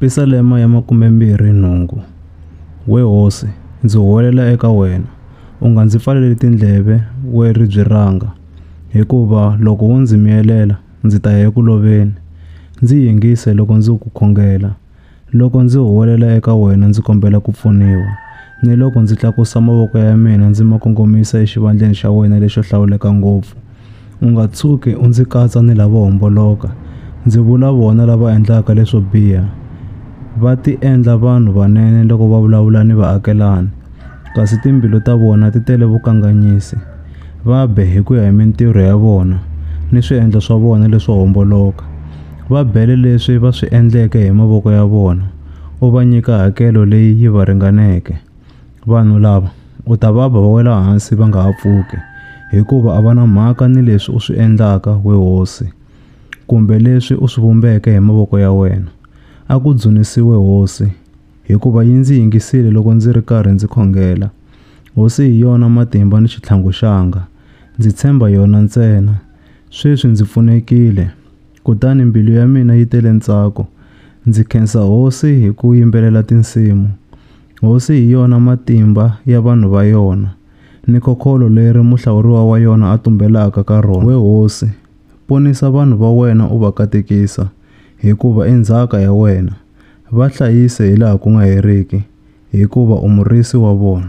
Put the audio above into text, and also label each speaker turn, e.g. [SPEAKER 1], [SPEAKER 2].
[SPEAKER 1] Yerusalema ya Makume-mbirhi nhungu, We hosi, ndzi huwelela eka wena, u nga ndzi pfaleli tindleve, we ribye ranga, hikuva loko wo ndzi miyelela, ndzi ta ya eku loveni. Ndzi yingise loko ndzi ku khongela, loko ndzi huwelela eka wena ndzi kombela ku pfuniwa, ni loko ndzi tlakusa mavoko ya mina ndzi ma kongomisa exivandleni xa wena lexo hlawuleka ngopfu, U nga tshuki u ndzi katsa ni lavo homboloka, ndzi vula vona lava endlaka leswo biha. Va tiendla vanhu vanene loko va vulavula ni vaakelani, kasi timbilu ta vona ti tele vukanganyisi. Va be hi ku ya hi mintirho ya vona ni swiendlo swa vona leswo homboloka. Va bele leswi va swi endleke hi mavoko ya vona, u va nyika hakelo leyi yi va ringaneke. Vanhu lava u ta va ba va wela hansi va nga ha pfuki, hikuva a va na mhaka ni leswi u swi endlaka, we hosi, kumbe leswi u swi vumbeke hi mavoko ya wena. A ku dzunisiwe hosi, hikuva yi ndzi yingisile loko ndzi ri karhi ndzi khongela. Hosi hi yona matimba ni xitlhangu xanga, ndzi tshemba yona ntsena. Sweswi ndzi pfunekile. kutani mbilu ya mina yi tele ntsako. Ndzi khensa Hosi hi ku yimbelela tinsimu. Hosi hi yona matimba ya vanhu va yona, ni khokholo leri muhlawuriwa wa yona a tumbelaka ka rona. We Hosi, ponisa vanhu va wena u va katekisa, hikuva i ndzhaka ya wena. Va hlayise hilaha ku nga heriki, hikuva u Murisi wa vona.